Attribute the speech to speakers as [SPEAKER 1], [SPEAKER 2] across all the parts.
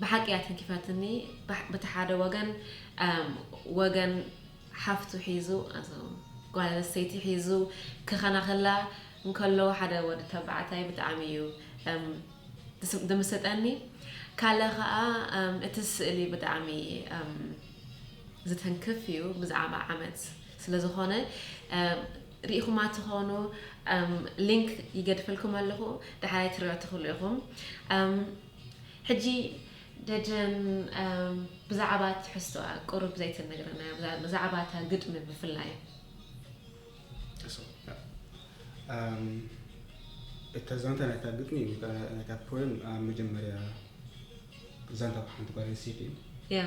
[SPEAKER 1] ብሓቂ እያ ተንኪፋትኒ በቲ ሓደ ወገን ወገን ሓፍቱ ሒዙ ጓል ኣንስተይቲ ሒዙ ክኸናኸላ እንከሎ ሓደ ወዲ ተባዕታይ ብጣዕሚ እዩ ድምስጠኒ ካለ ከዓ እቲ ስእሊ ብጣዕሚ ዝተንክፍ እዩ ብዛዕባ ዓመት ስለ ዝኾነ ሪኢኹማ ትኾኑ ሊንክ ይገድፈልኩም ኣለኹ ዳሕራይ ትሪኦ ትኽእሉ ኢኹም ሕጂ ደጀን ብዛዕባ ትሕዝቶኣ ቁሩብ ዘይትነግረና ብዛዕባ እታ ግጥሚ ብፍላይ
[SPEAKER 2] እታ ዛንታ ናይታ ግጥሚ ናይታ ፖየም ኣብ መጀመርያ ዛንታ ሓንቲ ጓል ኣንስተይቲ እዩ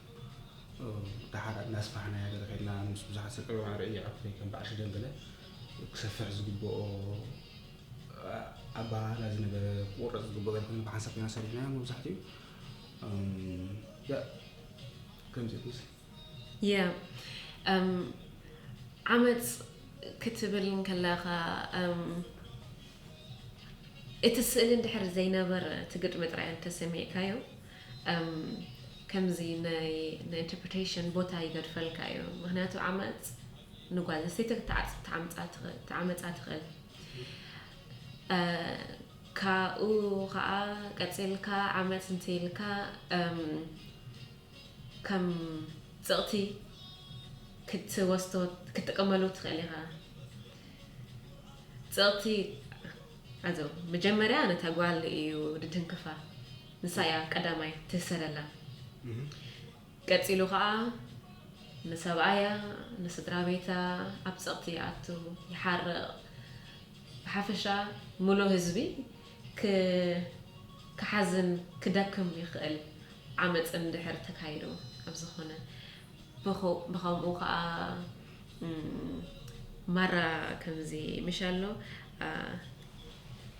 [SPEAKER 2] ደሓር እናስፋሕናያ ገለ ከድና ምስ ብዙሓት ሰብ ዕዮ ኣርዕዮ ኣኩፈይ ከም በዓል ሽደን ገለ ክሰፍሕ ዝግብኦ ኣባሃህላ ዝነበረ ክቁረፅ ዝግብኦ ገለ ኮይኑ ብሓንሳብ ኮይና ሰሪሕናያ መብዛሕትኡ ከምዚ ምስ
[SPEAKER 1] ያ ዓመፅ ክትብል እንከለኻ እቲ ስእሊ እንድሕር ዘይነበረ እቲ ግጥሚ ጥራይ እንተሰሚዕካዮ እም ከምዚ ናይ ናይ ኢንተርፕሪተሽን ቦታ ይገድፈልካ እዩ ምክንያቱ ዓመጽ ንጓል ኣንስተይቲ ክትዓጽ ትዓምጻ ትኽእል ትዓመጻ ትኽእል እ ካብኡ ከኣ ቀጺልካ ዓመጽ እንተኢልካ እም ከም ጽቕቲ ክትወስዶ ክትጥቀመሉ ትኽእል ኢኻ ጽቕቲ ኣዞ መጀመርያ ነታ ጓል እዩ ድትንክፋ ንሳ እያ ቀዳማይ ትህሰለላ ቀጺሉ ከኣ ንሰብኣያ ንስድራቤታ ኣብ ጸቕቲ ይኣቱ ይሓርቕ ብሓፈሻ ምሉእ ህዝቢ ክ ክሓዝን ክደክም ይኽእል ዓመጽ እንድሕር ተካይዱ ኣብ ዝኾነ ብኹ ብኸምኡ ከኣ ማራ ከምዚ ምሻሎ ኣ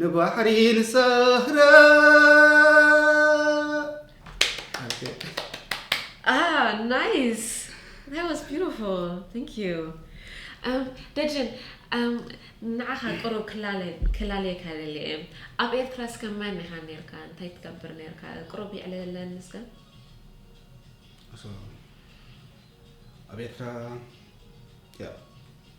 [SPEAKER 2] ንባሕሪ ንሰግረ
[SPEAKER 1] Ah, nice. That was beautiful. Thank you. Um, ደጀን um, ንዓኻ ቅሩብ ክላለ- ክላለየካ ደሊ እየ ኣብ ኤርትራ እስከ መን ኢኻ ነርካ እንታይ ትገብር ነርካ ቅሩብ ይዕለለኒ እስከ So,
[SPEAKER 2] ኣብ ኤርትራ ያ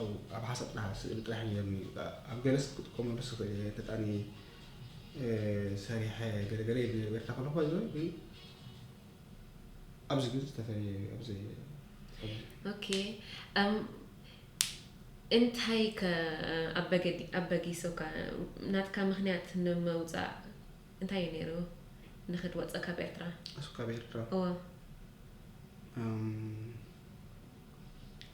[SPEAKER 2] ኣብኡ ኣብ ሓሰጥና ስእሊ ጥራሕ ኔርኒ ኣብ ገለስ ክጥቀመሉስ ይኽእል እየ ገጣኒ ሰሪሐ ገለ ገለ ይብል ነይረ ኤርትራ ከለኹ ባይዘ ግን ኣብዚ ግን ዝተፈለየ እዩ ኣብዚ
[SPEAKER 1] ኦኬ እንታይ ከ ኣበጊሶካ ናትካ ምክንያት ንምውፃእ እንታይ እዩ ነይሩ ንክትወፅእ ካብ ኤርትራ ካብ ኤርትራ እወ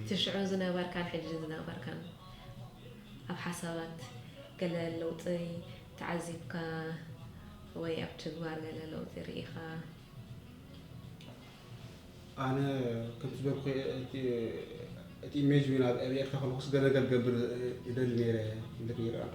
[SPEAKER 1] እቲ ሽዑ ዝነበርካን ሕጂ ዝነበርካን ኣብ ሓሳባት ገለ ለውጢ ተዓዚብካ ወይ ኣብ ትግባር ገለ ለውጢ ርኢኻ?
[SPEAKER 2] ኣነ ከምቲ ዝበልኩ እቲ ኢሜጅ ዊን ኣብ ኤርትራ ከለኩስ ገለ ነገር ክገብር ይደሊ ነይረ ኢለ ክይርኣኩ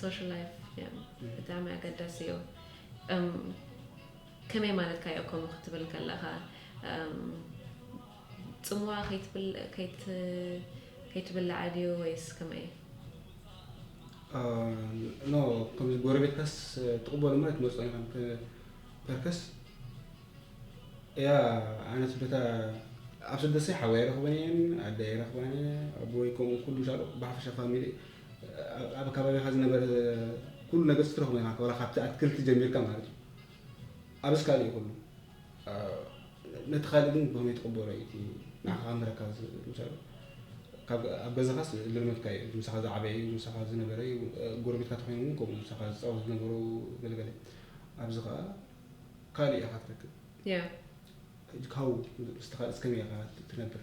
[SPEAKER 1] ሶሻል ላይፍ ብጣዕሚ ኣገዳሲ እዩ። ከመይ ማለትካ እዩ ከምኡ ክትብል ከለኻ? ጽምዋ ከይትብላዕ ድዩ ወይስ ከመይ?
[SPEAKER 2] ከምዚ ጎረቤትካስ ትቕበሎ እሞ ኣይትመጽኦን ኢኻ ፐርከስ እያ ኣነስ በታ ኣብ ስደሰይ ሓወይ ኣይረኽበን እየን ኣደይ ኣይረኽባን እየ ኣቦይ ከምኡ ኩሉ ሻዶ ብሓፈሻ ፋሚሊ ኣብ ከባቢኻ ዝነበረ ኩሉ ነገር ስትረኽቦ ኢኻ ዋላ ካብቲ ኣትክልቲ ጀሚርካ ማለት እዩ ኣብስ ካልእ እዩ ኩሉ ነቲ ካልእ ግን ብኸመይ ትቕበሎ እዩ እቲ ንዓኻ ካብ መረካ ምሳሉ ኣብ ገዛኻስ ልርመድካ እዩ ምሳኻ ዝዓበየ እዩ ምሳኻ ዝነበረ እዩ ጎረቤትካ ተኮይኖም እውን ከምኡ ምሳኻ ዝፃወቱ ዝነበሩ ገለገለ ኣብዚ ከዓ ካልእ ኢኻ ትረክብ
[SPEAKER 1] ሕጂ
[SPEAKER 2] ካብኡ ምስቲ ካልእስ ከመይ ኢኻ ትነብር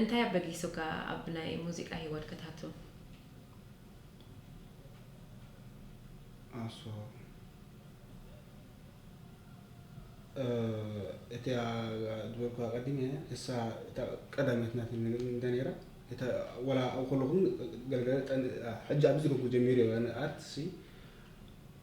[SPEAKER 1] እንታይ ኣበጊሱካ ኣብ ናይ ሙዚቃ ሂወት ክትኣቱ? ኣስዎ
[SPEAKER 2] እቲኣ ዝበልኩዋ ኣቀዲመ እሳ እታ ቀዳመት ናተይ እንተ ነይራ እታ ወላ ኣብ ከለኹ ገለገለ ጠን ሕጂ ኣብዚ ደኩ ጀሚሩ ኣርት ሲ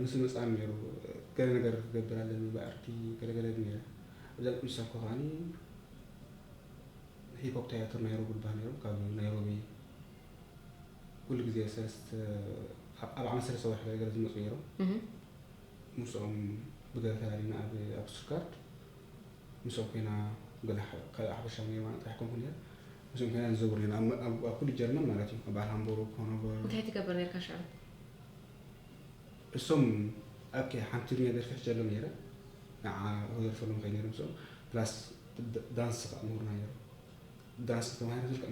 [SPEAKER 2] ምስ መጽኣኒ ነይሩ ገለ ነገር ክገብር ኣለኒ ብኣርኪ ገለ ገለ ነይረ እብዛ ቅዱሳት እኮ ከዓኒ ሂፖፕ ታያትር ናይሮቢ ልባህ ነይሮም ካብ ናይሮቢ ኩሉ ግዜ ሰለስተ ኣብ ዓመት ሰለስተ ወርሒ ገለ ገለ ዝመፁ ነይሮም ምስኦም ብገለ ተላሊና ኣብ ኣብ ስቱትጋርድ ምስኦም ኮይና ገለ ካልእ ሓፈሻዊ ነይሩ ማለት ጥራሕ ኮንኩ ነይረ ምስኦም ኮይና ንዘውር ነይና ኣብ ኩሉ ጀርመን ማለት እዩ ኣብ በዓል ሃምቡርግ ኮኖበር እንታይ ትገብር ነርካ ሽዑ እሶም ኣብከ ሓንቲ ትግርኛ ደርፊ ሕጂ ኣሎም ነይረ ንዓ ክደርፈሎም ከይ ነይረ ምስኦም ፕላስ ዳንስ ከ ምሁርና ነይሩ ዳንስ ተማሂረ ዝልከ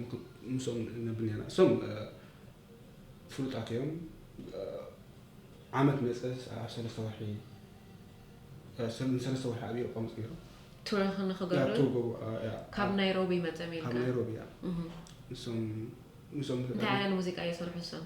[SPEAKER 2] ምስኦም ነብር ነይርና እሶም ፍሉጣት እዮም ዓመት መፀ ኣብ ሰለስተ ወርሒ ሰለስተ ወርሒ ኣብኡ ቆምፅ ነይሩ ቱረኽ ንክገብሩ
[SPEAKER 1] ካብ ናይሮቢ መፀም ኢልካ ካብ ናይሮቢ እያ
[SPEAKER 2] ንሶም
[SPEAKER 1] እንታይ ዓይነት ሙዚቃ እየሰርሑ እሶም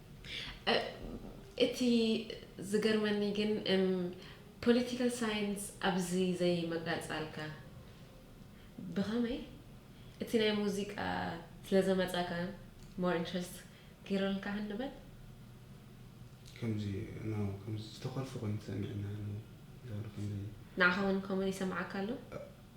[SPEAKER 1] እቲ ዝገርመኒ ግን እም ፖለቲካል ሳይንስ ኣብዚ ዘይምቐጻልካ ብኸመይ? እቲ ናይ ሙዚቃ ስለ ዘመጻካ ሞር ኢንትረስት ገይሩልካ ንበል? ከምዚ
[SPEAKER 2] ናው ከምዚ ዝተኮርፊ ኮይኑ ተሰሚዕኒ ኣነ ውን ንዓካ ውን ኮመን
[SPEAKER 1] ይሰማዓካ ኣሎ።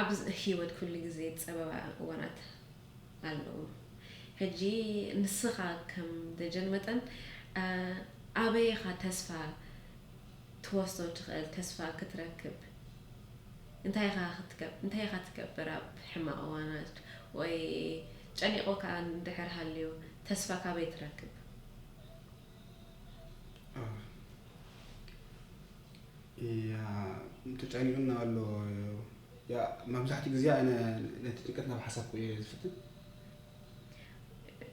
[SPEAKER 1] ኣብ ሂወት ኩሉ ግዜ ጸበባ እዋናት ኣለዉ ሕጂ ንስኻ ከም ደጀን መጠን ኣበይ ኢኻ ተስፋ ትወስዶ ትኽእል ተስፋ ክትረክብ እንታይ ኢኻ ክትገብር እንታይ ኢኻ ትገብር ኣብ ሕማቕ እዋናት ወይ ጨኒቑካ እንድሕር ሃልዩ ተስፋ ካበይ ትረክብ።
[SPEAKER 2] ያእ ተጨኒቁኒ ኣሎ ያእ መብዛሕትኡ ግዜ ኣነ ነቲ ጭንቀት ናብ ሓሳብኩ እየ ዝፍትን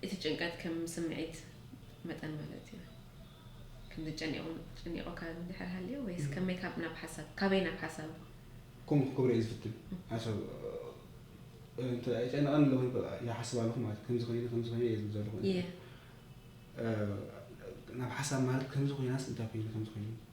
[SPEAKER 1] እቲ ጭንቀት ከም ስምዒት መጠን ማለት እዩ ከምዚ ጨኒቑ ጨኒቑካ እንድሕር ሃልዩ ወይስ ከመይ ካብ ናብ ሓሳብ ካበይ ናብ ሓሳብ ከምኡ ክገብረ
[SPEAKER 2] እየ ዝፍትን ሓሳብ እንተ ጨንቐን ኣለኹ ይሓስብ ኣለኹ ማለት ከምዚ ኮይነ ከምዚ ኮይነ እየ ዝብል ዘለኹ እየ ናብ ሓሳብ ማለት ከምዚ ኮይናስ እንታይ ኮይኑ ከምዚ ኮይኑ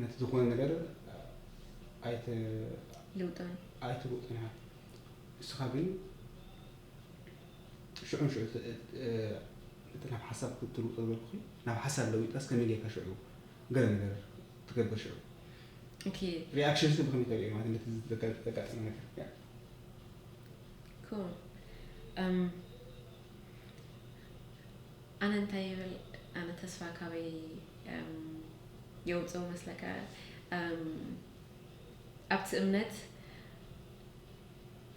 [SPEAKER 2] ነቲ ዝኾነ ነገር ኣይትልውጦን
[SPEAKER 1] ኣይትልውጦን ኢኻ
[SPEAKER 2] ንስኻ ግን ሽዑ ንሽዑ እቲ ናብ ሓሳብ ክትልውጦ ዝበልኩኺ ናብ ሓሳብ ለዊጣስ ከመይ ጌርካ ሽዑ ገለ ነገር ትገብር ሽዑ
[SPEAKER 1] ሪኣክሽንስ ብከመይ
[SPEAKER 2] ተሪኦ ማለት ነቲ ዘጋጠመ ነገር
[SPEAKER 1] ኣነ እንታይ ይብል ኣነ ተስፋ ካበይ የውጽእ መስለካ ኣብቲ እምነት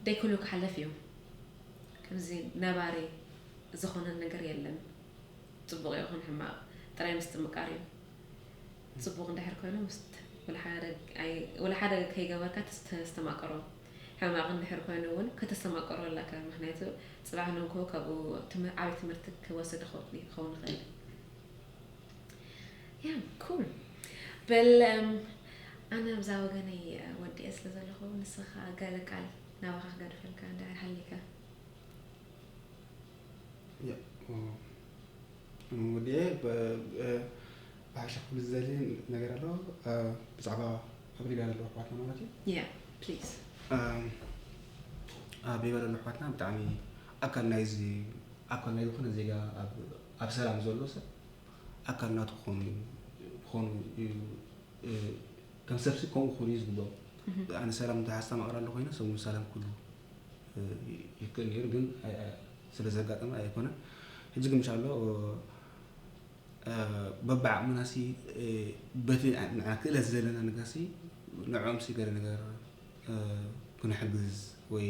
[SPEAKER 1] ደይ ኩሉ ክሓለፍ እዩ ከምዚ ነባሪ ዝኾነ ነገር የለን ጽቡቕ ይኹን ሕማቕ ጥራይ ምስትምቃር እዩ ጽቡቕ እንድሕር ኮይኑ ምስት ወላሓደ ከይገበርካ ተስተማቀሮ ሕማቕ እንድሕር ኮይኑ እውን ከተስተማቀሮ ኣለካ ምክንያቱ ፅባሕ ንግሆ ካብኡ ዓብይ ትምህርቲ ክወስድ ይኸውን ይኽእል ያ ኩል በል ኣነ ኣብዛ ወገነይ ወዲኤ ስለ ዘለኹ ንስኻ ገለ ቃል ናባኻ ክገድፈልካ እንድሕር ሃሊካ
[SPEAKER 2] ወዲኤ ብሓሻ ክብል ዝደሊ ነገር ኣሎ ብዛዕባ ኣብ ሊብያ ዘለዉ ኣሕዋትና ማለት እዩ ያ ፕሊዝ
[SPEAKER 1] ኣብ
[SPEAKER 2] ሊብያ ዘለዉ ኣሕዋትና ብጣዕሚ ኣካል ናይዚ ኣካል ናይ ዝኾነ ዜጋ ኣብ ኣብ ሰላም ዘሎ ሰብ ኣካል ናቱ ክኾኑ እዩ ክኾኑ እዩ ከም ሰብሲ ከምኡ ክኾኑ እዩ ዝግብኦ ኣነ ሰላም እንታይ ሓሳብ ማቕራሉ ኮይነ ሰብ እውን ሰላም ክሉ ይክእል ነይሩ ግን ስለ ዘጋጠመ ኣይኮነን ሕጂ ግን ምሻሎ በብዓቕምና ሲ በቲ ንዓ ክእለት ዘለና ነገር ሲ ንዕኦም ሲ ገለ ነገር ክንሕግዝ ወይ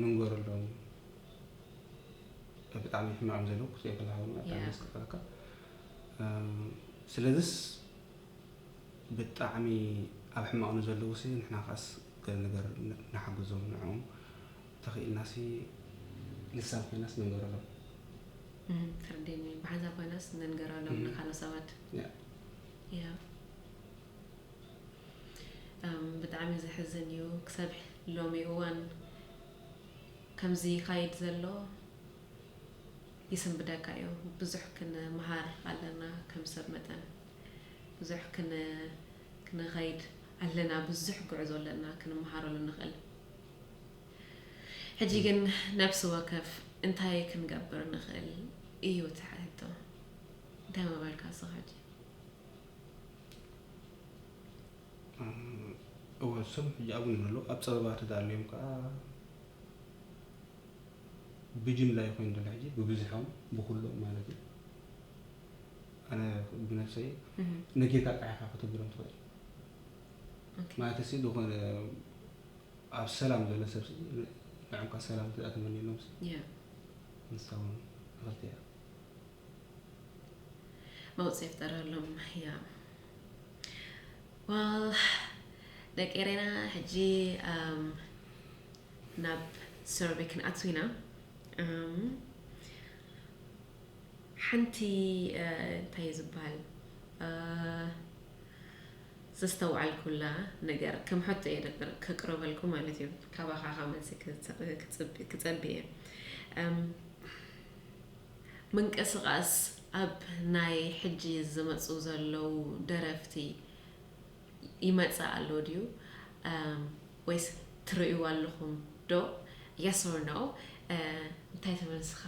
[SPEAKER 2] ንንገረሎም ብጣዕሚ ሕማም ዘለዉ ክፅኦ ከለካ ድማ ብጣዕሚ ዘስክፈካ ስለዚስ ብጣዕሚ ኣብ ሕማቕ ንዘለዉ ሲ ንሕና ከዓስ ገለ ነገር ንሓግዞም ንዕኦም ተኽኢልና ሲ ልሳን ኮይናስ ንንገረሎም
[SPEAKER 1] ትርዲኒ ብሓንሳብ ኮይናስ ንንገረሎም ንካልኦት ሰባት ብጣዕሚ ዘሕዝን እዩ ክሳብ ሎሚ እዋን ከምዚ ይካይድ ዘሎ ይስንብደካ እዩ ብዙሕ ክንምሃር ኣለና ከም ሰብ መጠን ብዙሕ ክንኸይድ ኣለና ብዙሕ ጉዕዞ ኣለና ክንምሃረሉ ንኽእል ሕጂ ግን ነብሲ ወከፍ እንታይ ክንገብር ንኽእል እዩ እቲ ሕቶ እንታይ ምበልካ ስኻ ሕጂ
[SPEAKER 2] እወ እሶም ሕጂ ኣብኡ እዮም ዘለዉ ኣብ ፀበባ ተዳልዮም ከዓ ብጅምላ እዩ ኮይኑ ዘሎ ሕጂ ብብዝሖም ብኩሎም ማለት እዩ ኣነ ብነፍሰይ ነጌታ ቃዕካ ከተብሎም ትኽእል ማለት ሲ ዝኾነ ኣብ ሰላም ዘሎ ሰብ ንዕምካ ሰላም ተመኒሎም ንሳ እውን እኽልቲ እያ
[SPEAKER 1] መውጽ የፍጠረሎም ያ ዋል ደቂ ኤሬና ሕጂ ናብ ሰርቢ ክንኣቱ ኢና ሓንቲ እንታይ ዝበሃል ዘስተውዓልኩላ ነገር ከም ሕቶ እየ ደበር ከቅርበልኩ ማለት እዩ ካባኻ ካብ መልሲ ክጸብ እየ ምንቅስቃስ ኣብ ናይ ሕጂ ዝመጹ ዘለዉ ደረፍቲ ይመጽእ ኣሎ ድዩ ወይስ ትርእይዎ ኣለኹም ዶ yes or no እንታይ ትብል ንስኻ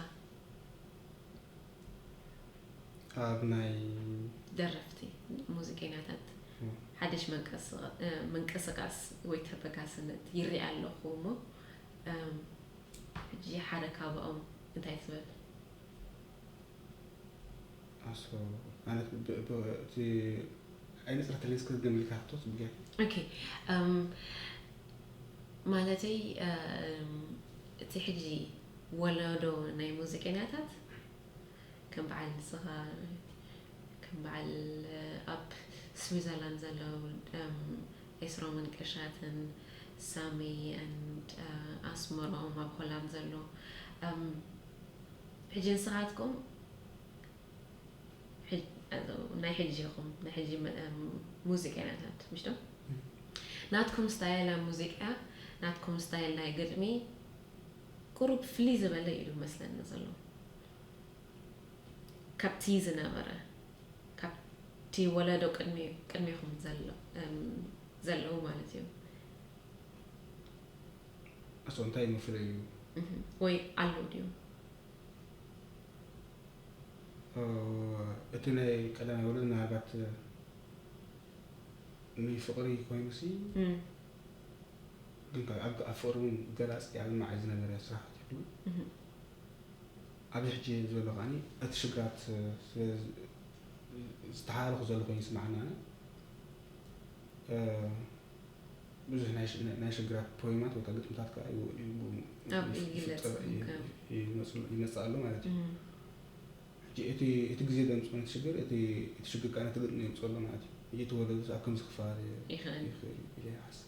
[SPEAKER 2] ኣብ ናይ
[SPEAKER 1] ደረፍቲ ሙዚቀኛታት ሓድሽ ምንቅስቃስ ወይ ተበጋስነት ይርኢ ኣለኹ እሞ ሕጂ ሓደ ካባኦም እንታይ ትብል?
[SPEAKER 2] ኣስፎ፣ ማለት እቲ ኣይነጽረተለይን እስከ ድገሚ ኢልካ ሕቶ ጽጌ። ኦኬ
[SPEAKER 1] ማለተይ እቲ ሕጂ ወለዶ ናይ ሙዚቀኛታት፣ ከም በዓል ንስኻ ከም በዓል ኣብ ስዊዘርላንድ ዘለው ኤስሮምን ቀሻትን ሳሚ and ኣስመሮም ኣብ ሆላንድ ዘሎ ሕጂ ንስኻትኩም ናይ ሕጂ ኢኹም ናይ ሕጂ ሙዚቀኛታት ምሽ ዶ ናትኩም ስታይል ኣብ ሙዚቃ ናትኩም ስታይል ናይ ግጥሚ ቁሩብ ፍልይ ዝበለ ኢዩ መስለኒ ዘሎ ካብቲ ዝነበረ፣ ካብቲ ወለዶ ቅድሜኩም ዘለዉ ማለት እዩ።
[SPEAKER 2] ኣቶ እንታይ መፍለዩ? ወይ
[SPEAKER 1] ኣሎ ድዩ?
[SPEAKER 2] እቲ ናይ ቀዳማይ ወለዶ ምናልባት ንፍቕሪ ኮይኑሲ ግን ኣብ ፍቕሪ እውን ገላፂ ኣድማዒ ዝነበረ ስራሕቲ ይህሉ። ኣብዚ ሕጂ ዘሎ ከኣ እቲ ሽግራት ስለ ዝተሓላለኹ ዘሎ ኮይኑ ይስምዓኒ ኣነ ብዙሕ ናይ ሽግራት ፖይማት ወይ ግጥምታት ከዓ ይመፅእ ኣሎ ማለት እዩ እቲ ግዜ ዘምፅኦ ነት ሽግር እቲ ሽግር ከዓ ነቲ ግጥሚ የምፅኦ ኣሎ ማለት እዩ እቲ ወለዶ ኣብ ከምዚ ክፋል ይኽእል ይኽእል ይሓስብ